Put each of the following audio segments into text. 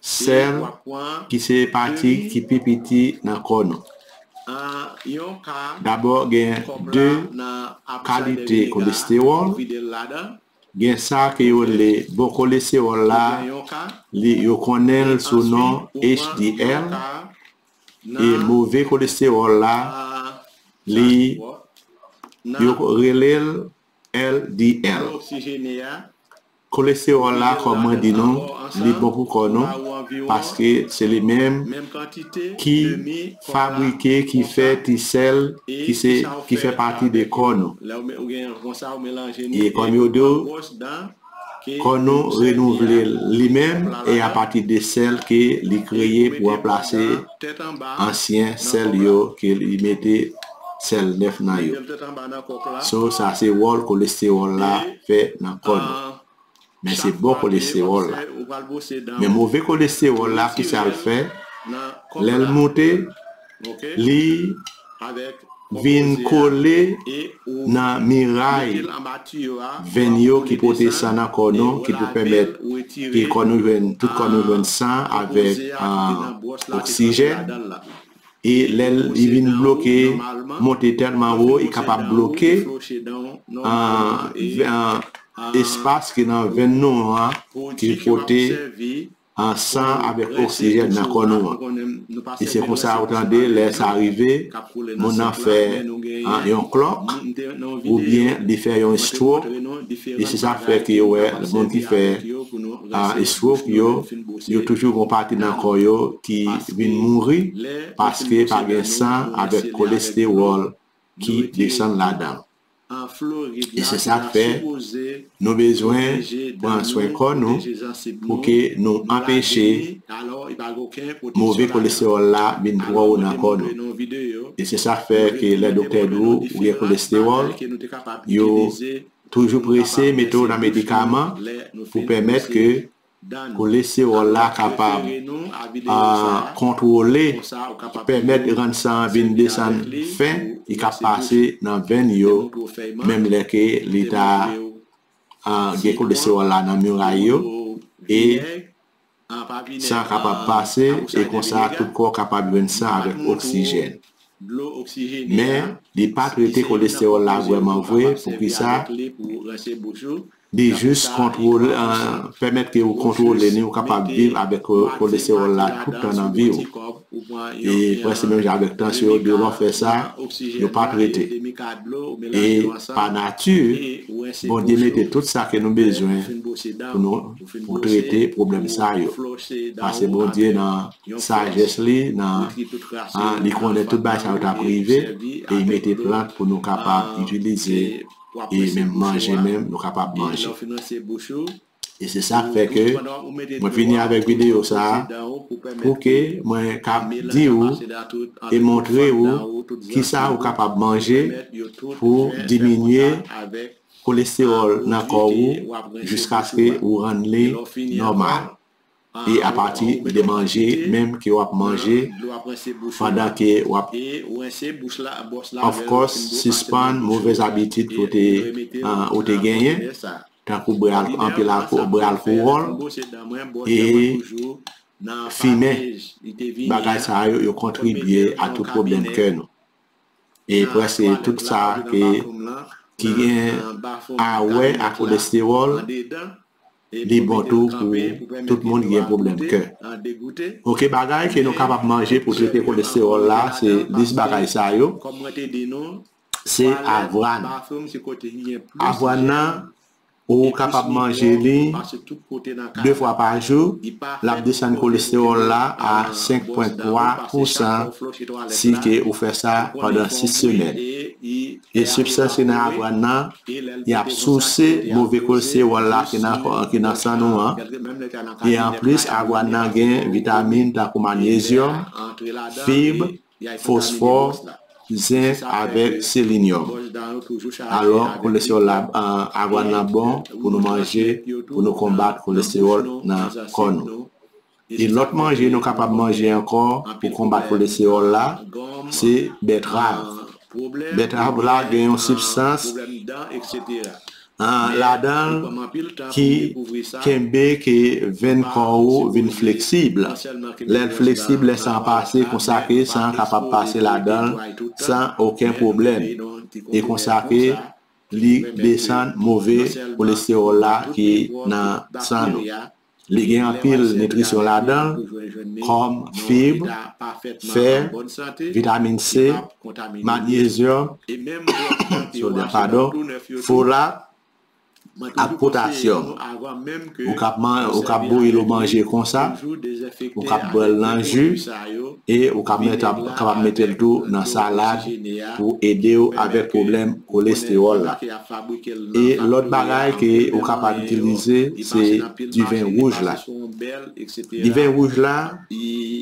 Sèl ki se pati ki pi piti nan kò nou. Dabò gen 2 kalite kolestewòl, gen sa ke yo rele bon kolestewòl la, li yo konnen l sou non HDL, e move kolestewòl la, li yo rele l LDL. Kolesteròl la kòm mwen di nou li bon pou kò nou paske se li menm ki fabrike ki fè ti sèl ki se ki fè pati de kò nou e kòm yo di w kò nou renouvle li menm e apati de sèl ke li kreye pou anplase ansyen sèl yo ke li mete sèl 9 nan yo. So sa se wòl kolestewòl la fè nan kò nou. Men se bon kolestewòl la. Men move kolestewòl la kisa l fè? Lè l moute, li vin kole nan miray venn yo ki pote san nan kò nou ki pou pèmèt ke kò nou jwenn, tout kò nou jwenn san avèk oksijèn. e lè li vin bloke monte tèlman wo e kapab bloke espas ki nan venn nou an ki pote san avèk oksijèn nan kò nou an e se konsa ou tande lè sa rive moun nan fè yon klòk oubyen li fè yon estwok e se sa fè ke yo wè moun ki fè Eswok yo, yo toujou gon pati nan kò yo ki vin mouri paske pa gen san avèk kolestewòl ki desann ladan. E se sa k fè nou bezwen pran swen kò nou pou ke nou anpeche move kolestewòl la vin twò wo nan kò nou. E se sa k fè ke lè doktè di w ou gen kolestewòl, yo Toujou prese mete w nan medikaman pou pèmèt ke kolesteròl la kapab kontwole ki pèmèt rann san an vin desann fen li ka pase nan venn yo menm lè ke li ta gen kolesteròl la nan miray yo e San kapab pase e konsa tout kò kapab jwenn san avèk oksijèn. Men, li pa trete kolestewòl la vrèman vre, poukisa? Li jis kontwole, pèmèt ke ou kontwole ni ou kapab viv avèk kolestewòl la tout tan nan vi ou. e prèske menm jan avèk tansyon yo devan fè sa yo pa trete e pa nati Bondye mete tout sa ke nou bezwen pou nou pou trete pwoblèm sa yo pase Bondye nan sajès li nan li konnen tout bagay sa yo ta prive e li mete plant pou nou kapab itilize e menm manje menm nou kapab manje. E se sak fè ke mwen vini avèk videyo sa a pou ke mwen ka di ou e montre ou kisa ou kapab manje pou diminye kolestewòl nan kò ou jiskaske ou rann li nòmal. e apati de manje menm ke wap manje pandan ke wap of course sispann move zabitid ke ou te genyen tankou bwè anpil bwè alkowòl e fimen bagay sa yo yo kontribye a tout pwoblèm kè nou e prèske tout sa ke ki gen a wè ak kolesteròl Li bon tou pou tout moun ki gen pwoblèm kè. Ok bagay ke nou kapab manje pou trete kolestewòl la se lis bagay sa yo, se avwàn. Avwàn nan ou kapab manje li 2 fwa pa jou, lap desann kolestewòl la a 5.3 pousan si ke ou fè sa pandan 6 semèn. E sibstanse nan avwàn nan, y ap souse move kolesteròl la ki nan san nou an. E anplis, avwàn nan gen vitamin tankou manyezyòm, fib, fosfò, zenk avèk selenyòm. Alò, kolesteròl la, avwàn nan bon pou nou manje pou nou konbat kolesteròl nan kò nou. E lòt manje nou kapab manje ankò pou konbat kolestewòl la se bètrav. Bètrav la gen yon sibstans ladan l ki kenbe ke venn kò ou vin fleksib. Lè l fleksib, lè san an pase konsa ke san an kapab pase ladan l san oken pwoblèm. E konsa ke li desann move kolestewòl la ki nan san nou. Li gen anpil nitrisyon ladan l kòm fib, fè, vitamin C, magnezyòm, sodyòm padon, folat ak potasyòm. Ou kab bouyi l ou manje konsa, ou kab bwè l nan ji, E ou kap mèt ap kapab metel tou nan salad pou edew avèk pwoblèm kolestewòl la. E lòt bagay ke ou kapab itilize se diven wouj la. Diven wouj la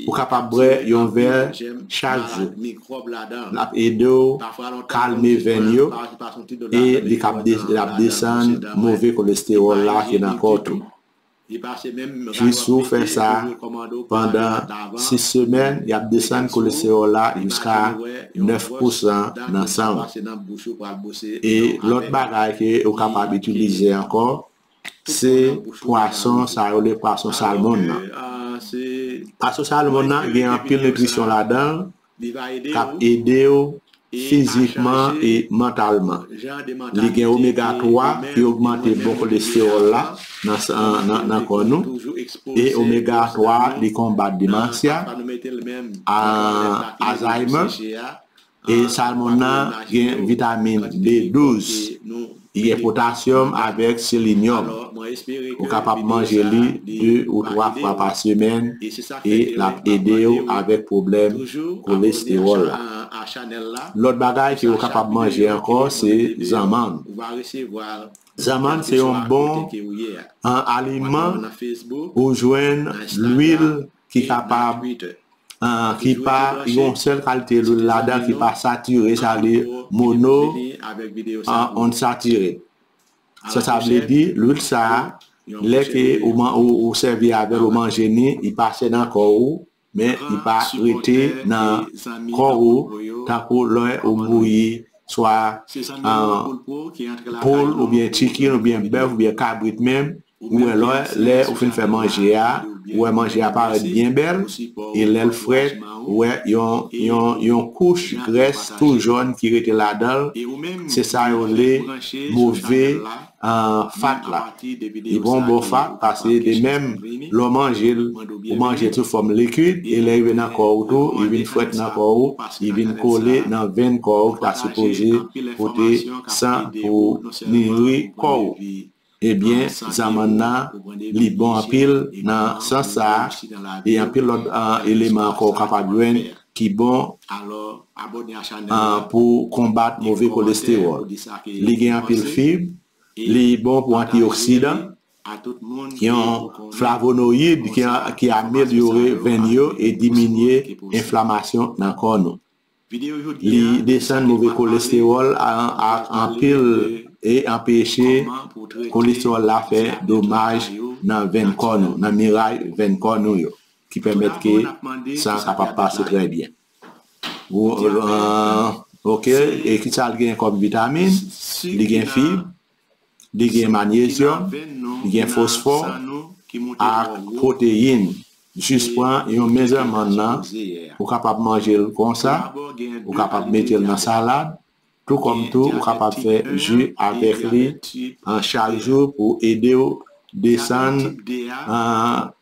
ou kapab bwè yon vè chak jou. Lap edew kalme venn yo e li kap lap desann move kolestewòl la ki nan kòw tou. Jisou w fè sa pandan 6 semèn, y ap desann kolesteròl la jiska 9 pousan nan san w. E lòt bagay ke ou kapab itilize ankò, se pwason sa yo rele pwason salmon nan. Pwason salmon nan gen anpil nitrisyon ladan l, k ap ede w fizikman e mantalman. Li gen omega 3 ki ogmante bon kolestewòl la nan san nan kò nou e omega 3 li konbat demansya, Alzheimer, e salmon nan gen vitamin B12. Li gen potasyòm avèk selenyòm. Ou kapab manje li 2 ou 3 fwa pa semèn e l ap ede w avèk pwoblèm kolestewòl la. Lòt bagay ke ou kapab manje ankò se zanmann. Zanmann se yon bon an aliman ou jwenn lwil ki kapab ki pa yon sèl kalte lwil ladan ki pa satire sa vle di mono unsatire sa sa vle di lwil sa lè ke ou sèvi avèl ou manje ni li pase nan kò ou men li pa rete nan kò ou tankou lè ou bouyi swa poul oubyen chicken oubyen bèf oubyen kabrit menm Ou wè lè lè ou fin fè manje a ou wè manje a parèt byen bèl e lèl frèt ou wè yon yon yon kouch grès tou jòn ki rete ladanl se sa yo rele move fat la li pran yon bon fat pase de menm lè w manjel ou manjel sou fòm likid e lè rive nan kò ou tou li vin frèt nan kò ou li vin kole nan venn kò ou ki ta sipoze pote san pou niri kò ou. Ebyen zamanna li bon anpil nan sans sa e anpil lòt eleman ankò ou kapab jwenn ki bon pou konbat move kolestewòl. Li gen anpil fib, li bon pou antioksidan, yon flavonoyid ki amelyore venn yo e diminye enflamasyon nan kò nou. Li desann move kolestewòl anpil e anpeche kolestewòl la fè domaj nan venn kò nou, nan miray venn kò nou yo ki pèmèt ke san an kapab pase trè byen. Ok, e kisa l genyen kòm vitamin? Li gen fib, Li gen manyezyòm, li gen fosfò ak pwoteyin. Jis pran yon mezèl mann nan, ou kapab manje l konsa, ou kapab mete l nan salad, tou kòm tou ou kapab fè ji avèk li chak jou pou ede w desann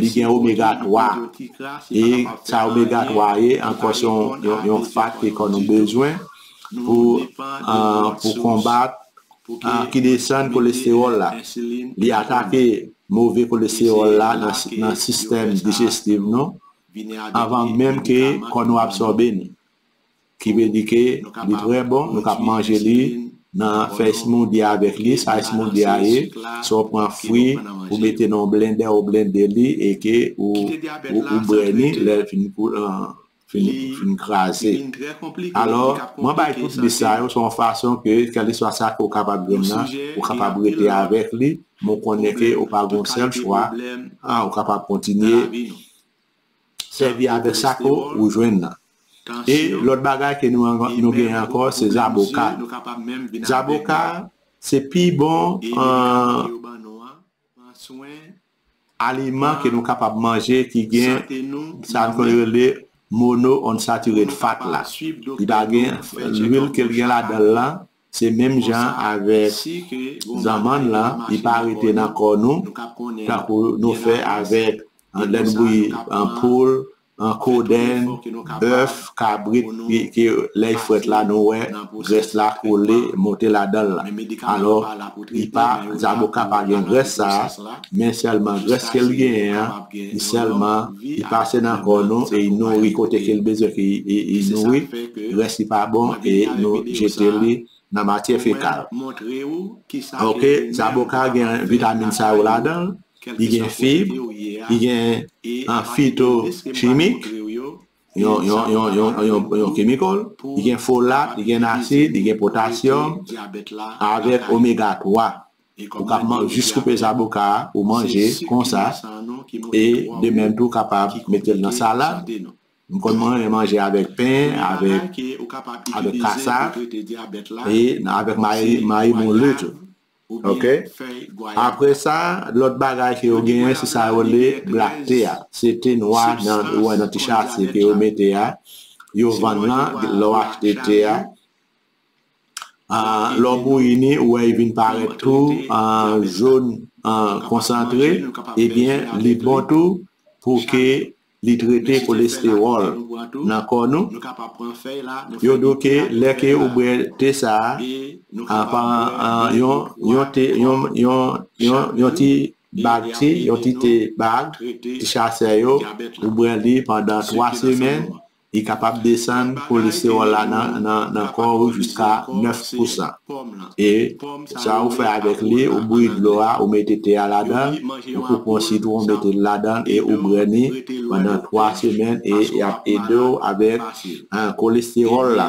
Li gen omega 3. E sa omega 3 a ye ankò se yon fat ke kò nou bezwen pou konbat ki desann kolestewòl la. Li atake move kolestewòl la nan sistèm dijestif nou avan menm ke kò nou absòbe ni. Ki vle di ke li trè bon, nou kab manje li nan fè smoothie avèk li, sa smoothie a ye, se w pran fwi ou mete nan yon blendè ou blende li e ke ou bwè li lè li fin kraze. Alò, mwen bay tout lis sa yo se yon fason ke kèleswa sa ke ou kapab jwenn nan, ou kapab rete avèk li, men w konnen ke ou pa gen yon sèl chwa, ou kapab kontinye. Sèvi avèk sa ke ou jwenn nan. E lòt bagay ke nou genyen ankò se zaboka. Zaboka se pi bon aliman ke nou kapab manje ki gen sa ke yo rele monounsatire fat la. Li pa gen lwil ke li gen ladan lan. Se menm jan avèk zanmann lan, li pa rete nan kò nou, tankou nou fè avèk lè nou bouyi poul, kodenn, bèf, kabrit, ke lè li frèt la nou wè grès la kole monte ladan l lan. Alò, li pa, zaboka pa gen grès sa a. Men sèlman grès ke l genyen an, li sèlman li pase nan kò nou e li nouri kote ke li bezwen ke li nouri, le rès li pa bon e nou jete li nan matyè fekal. Ok, zaboka gen vitamin sa yo ladan l, li gen fib, li gen an fito chimik. yon kemikal, li gen folat, li gen asid, li gen potasyòm, avèk omega 3. Ou kap man jis koupe zaboka a, ou manje konsa, e de menm tou kapab mete l nan salad. M konn man yon manje avèk pen, avèk kasa, e avèk mayi moulen tou. Ok apre sa lot bagay ke yo genyen se sa yo rele black tea a se te nwa nan ou wè nan ti chase ke yo mete a yo vann lan lè w achte te a lè w bouyi ni ou wè li vin parèt tou jone konsantre ebyen li bon tou pou ke Li trete kolestewòl nan kò nou. Yo di w ke lè ke ou bwè te sa a, yon ti bag te, yon ti te bag, ti chasè yo, ou bwè li pandan 3 semèn, Li kapab desann kolesteròl la nan kò ou jiska 9 pousan. E sa ou fè avèk li, ou bouyi dlo a, ou mete te a ladan l, ou koupe yon sitwon mete l ladan l e ou bwè li pandan 3 semèn e y ap ede w avèk kolesteròl la.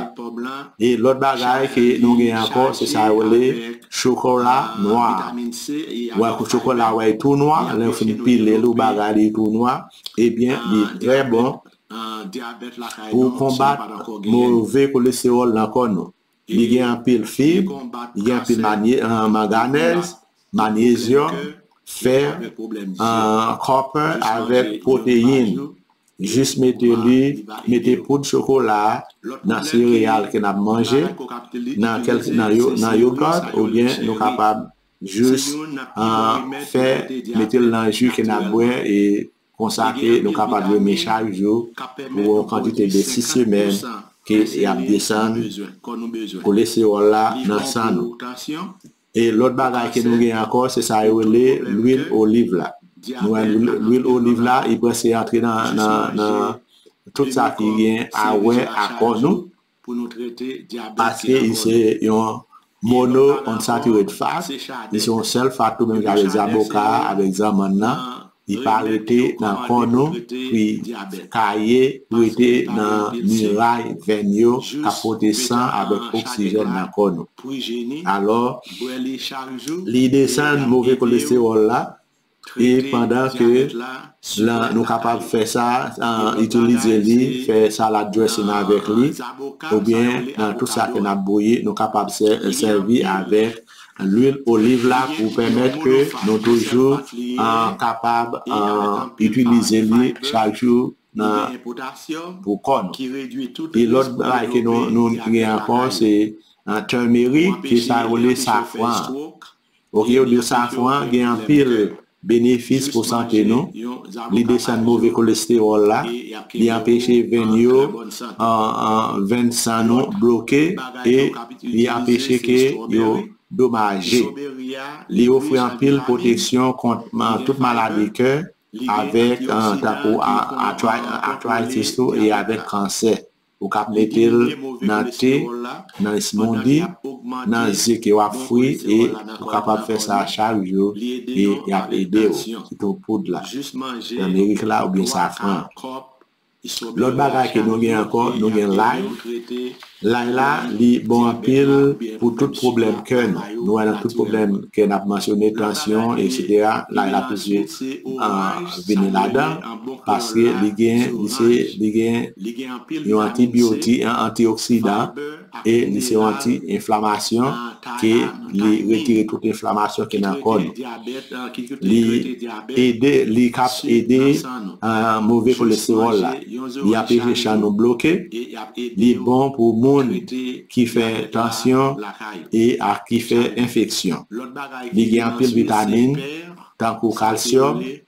E lòt bagay ke nou gen ankò se sa yo rele chokola nwa a. Ou wè kou chokola a wè li tou nwa, lè ou fin pile l ou bagay li tou nwa, ebyen li trè bon Pou konbat move kolestewòl nan kò nou, li gen anpil fib, li gen anpil manganèz, manyezyòm, fè, kòpè avèk pwoteyin. Jis mete li, mete poud chokola nan sereyal ke n ap manje, nan yogot oubyen nou kapab jis fè, mete l nan ji ke n ap bwè. Konsa ke nou kapab jene chak jou pou yon kantite de 6 semèn ke y ap desann kolestewòl la nan san nou. E lòt bagay ke nou gen ankò se sa yo rele lwil oliv la. Nou wè lwil oliv la li prese antre nan tout sa ki gen a wè a kò nou pou nou trete dyabèt ki nan kò nou. Mono unsaturated fat li se yon sèl fat tou menm jan avèk zaboka a avèk zanmann nan li pa rete nan kò nou pri kaye pou rete nan miray vèn yo kap pote san avèk oksijèn nan kò nou alò li desann move kolestewòl la E pandan ke lan nou kapab fè sa, itilize li, fè salad dressing avèk li, oubyen nan tout sa ke nap bouyi, nou kapab sèvi avèk lwil oliv la pou pèmèt ke nou toujou kapab itilize li chak jou nan pou kò nou. E lòt bagay ke nou gen ankò se turmeric, ki sa yo rele safran an. Ok yo diw safran an gen anpil benefis pou sante nou, li desann move kolestewòl la, li anpeche venn yo venn san nou bloke e li anpeche ke yo domaje, li ofri anpil pwotesyon kont tout maladi kè avèk tankou atritis tou e avèk kansè. Ou ka mete l nan te, nan esmondi, nan ze ke w ap fri e ou kapab fè sa chak jou e y ap ede w, sitou poud la, tanmerik la oubyen safran an. Lòt bagay ke nou gen ankò, nou gen lay, lay la li bon anpil pou tout pwoblèm kè nou, nou wè nan tout pwoblèm kè n ap mansyone, tansyon, eksetera, lay la toujou vini ladan. paske li gen li se li gen yon antibiotik yon antioksidan e li se yon anti enflamasyon ke li retire tout enflamasyon ki nan kò nou li ede li kap ede move kolesteròl la li anpeche chan nou bloke li bon pou moun ki fè tansyon e ak ki fè enfeksyon li gen anpil vitamin tankou kalsyòm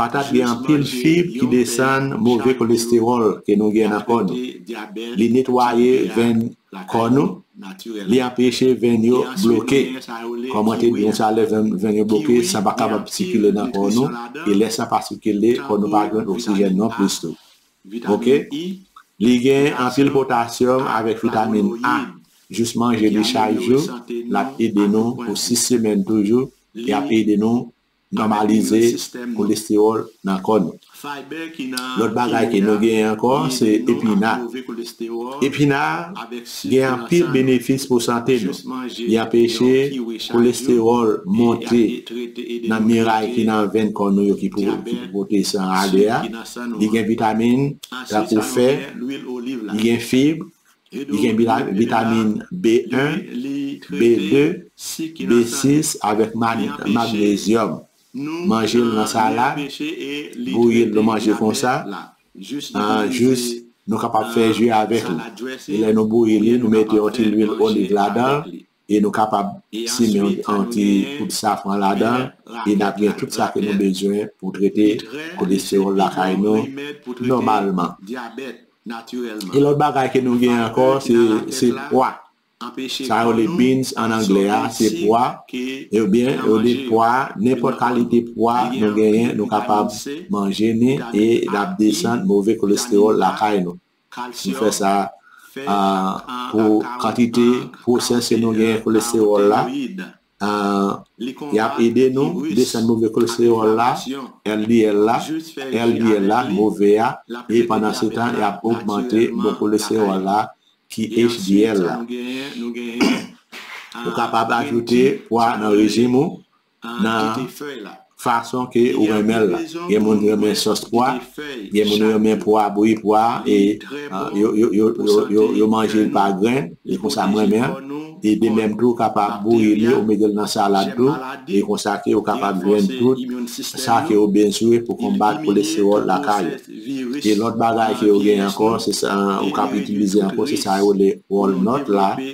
Patat gen anpil fib ki desann move kolestewòl ke nou gen nan kò nou. Li netwaye venn kò nou, li anpeche venn yo bloke. Kòmante byen sa lè venn yo bloke san pa kapab sikile nan kò nou e lè san pa sikile kò nou pa jwenn oksijèn non plis tou. Ok. Li gen anpil potasyòm avèk vitamin A, jis manje li chak jou lap ede nou pou 6 semèn toujou e ap ede nou Nòmalize kolestewòl nan kò nou. Lòt bagay ke nou genyen ankò se epina. Epina gen anpil benefis pou sante nou. Li anpeche kolestewòl monte nan miray ki nan venn kò nou yo ki pou pote san ale a. Li gen vitamin tankou fè, li gen fib, Li gen vitamin B1, B2, B6 avèk magnezyòm. Manje l nan salad, bouyi l nou manje konsa, nan jus, nou kapab fè ju avèk li. Lè nou bouyi li, nou mete yon ti lwil oliv ladan l, e nou kapab simen yon ti poud safran ladan e nap gen tout sa ke nou bezwen pou trete kolestewòl lakay nou nòmalman. E lòt bagay ke nou gen ankò se pwa sa yo rele beans an anglè a se pwa ebyen yo di pwa nenpòt kalite pwa nou genyen nou kapab manje ni e lap desann move kolestewòl lakay nou. Li fè sa pou kantite pwosèse nou gen kolesteròl la, li ap ede nou desann move kolesteròl la, LDL la, LDL la, move a, e pandan se tan li ap ogmante bon kolesteròl la ki HDL la. Ou kapab ajoute pwa nan rejim ou nan fason ke ou renmenl la gen moun renmen sòs pwa gen moun renmen pwa bouyi pwa e yo manjel pa grenn e konsa m renmenl e de menm tou ou kapab bouyi li ou metel nan salad tou e konsa ke ou kapab jwenn tout sa ke ou bezwen pou konbat kolesteròl lakay ou e lòt bagay ke yo gen ankò ou kap itilize ankò se sa yo rele walnut la.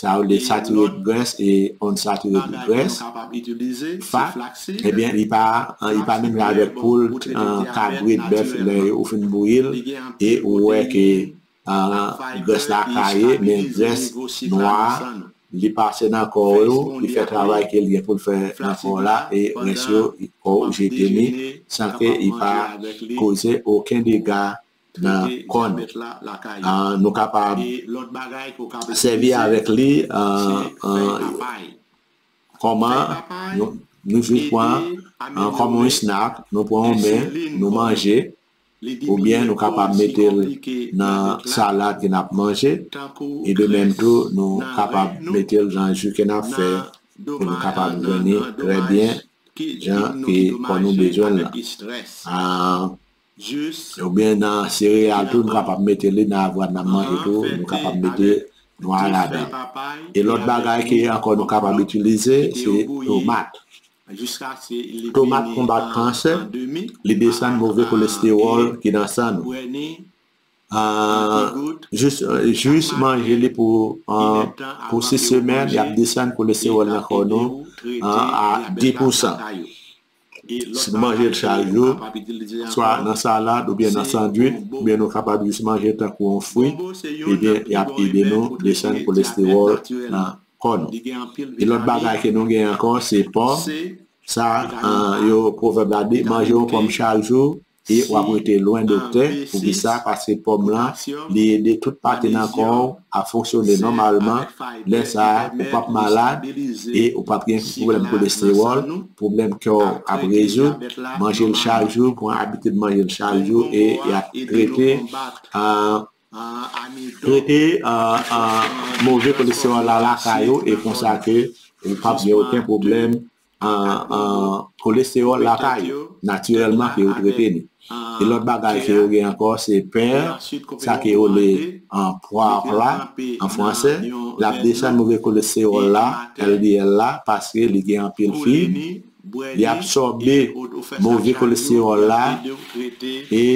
Sa yo rele saturate grès e unsaturated grès, fat, ebyen li pa li pa menm jan avèk poul, kabrit, bèf lè ou fin bouyi l e ou wè ke grès la kaye men grès nwa a li pase nan kò w ou li fè travay ke li gen pou l fè nan kò w la e rès yo kò w jete li san ke li pa koze oken dega nan kò nou. Nou kapab sèvi avèk li kòman nou jis pran kòm yon snack, nou pran yon men, nou manje oubyen nou kapab mete l nan salad ke n ap manje e de menm tou nou kapab mete l nan ji ke n ap fè pou nou kapab dòmi trè byen jan ke kò nou bezwen l lan. Ou byen nan sereyal tou nou kapab mete li nan avwad nan manje tou nou kapab mete nwa ladan e lòt bagay ki ankò nou kapab itilize se tomat tomat konbat kansè li desann move kolestewòl ki nan san nou jus manje li pou 6 semèn yap desann kolestewòl nan kò nou a 10 pousan Si nou manje l charyo, swa nan salad oubyen nan sandwich, oubyen nou kapab jis manje l tankou yon fwi, ebyen y ap ede nou desann kolestewòl nan kò nou. Yon lòt bagay ke nou gen ankò se pòm, sa yo pwovèb la di, manje yon pòm chak jou E wap rete lwen doktè poukisa paske pòm lan li ede tout pati nan kòw a fonksyone nòmalman lè sa ou pap malad e ou pap gen pwoblèm kolestewòl pwoblèm kèw ap rezoud manjel chak jou pran abitid manjel chak jou e yap trete trete move kolestewòl la lakay ou e konsa ke ou pap gen oken pwoblèm Kolesteròl la pa yo, natirèlman ke yo trete li. E lòt bagay ke yo gen ankò se pè, sa ke yo rele poivre la an fransè, l ap desann move kolesteròl la, LDL la, paske li gen anpil fib, li absòbe move kolesteròl la e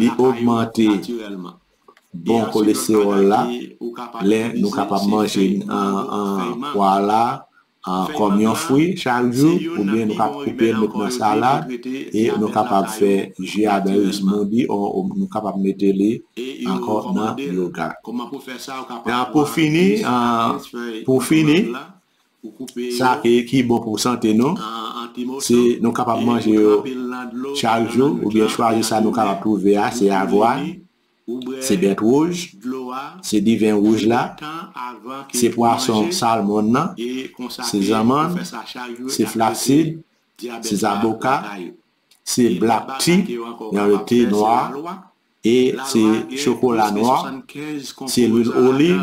li ogmante bon kolesteròl la. Lè nou kapab manje pwa la, kòm yon fwi chak jou oubyen nou ka koupe l met nan salad e nou kapab fè ji a dan yo smoothie o nou kapab mete li ankò nan yogat e pou fini pou fini sa ki bon pou sante nou se nou kapab manje yo chak jou oubyen chwazi sa nou kapab twouve a se avwàn. se bèt wouj, se diven wouj la, se pwason salmon nan, se zanmann, se flaxseed, se zaboka, se black tea, yon le te nwa, e se chokola nwa, se lwil oliv,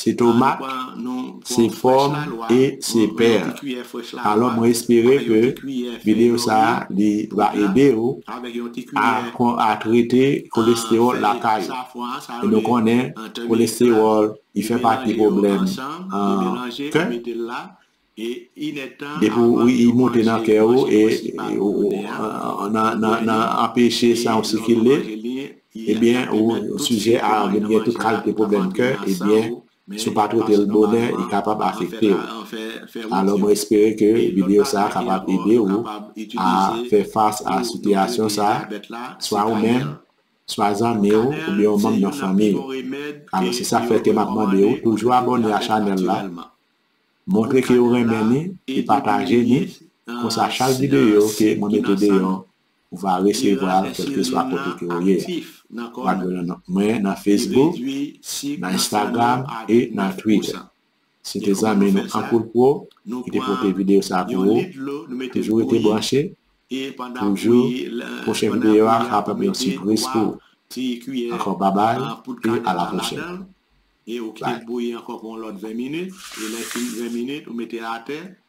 Se tomat, se pòm e se pèr. Alò mwen espere ke video sa li va ede ou a trete kolestewòl lakay ou. E nou konnen kolestewòl li fè pati pwoblèm kè. Depi w li moute nan kè ou e ou nan anpeche san w sikile, ebyen ou sijè a vin gen tout kalte pwoblèm kè, ebyen si w pa trete l bonè li kapab afekte w. Alò mwen espere ke videyo sa kapab ede ou a fè fas a sitiyasyon sa, swa ou menm, swa zanmi w oubyen yon manm nan fanmi w. Alò se sa k fè ke m ap mande ou toujou abòne a chanèl la Montre ke ou renmen ni e pataje ni, konsa chak videyo ke mwen mete deyò ou va resevwa l kèlkeswa kote ke ou ye a. Ou ap jwenn mwen nan Facebook, nan Instagram e nan Twitter. Se te zanmi nou Ankoul Pro ki te pote videyo sa pou ou, toujou rete branche, toujou pwochen videyo a kapab yon sipriz pou ou. Ankò babay e a la pwochèn. E ou kite l bouyi ankò pou yon lòt 20 minit, e lè l fin 20 minit ou mete atè,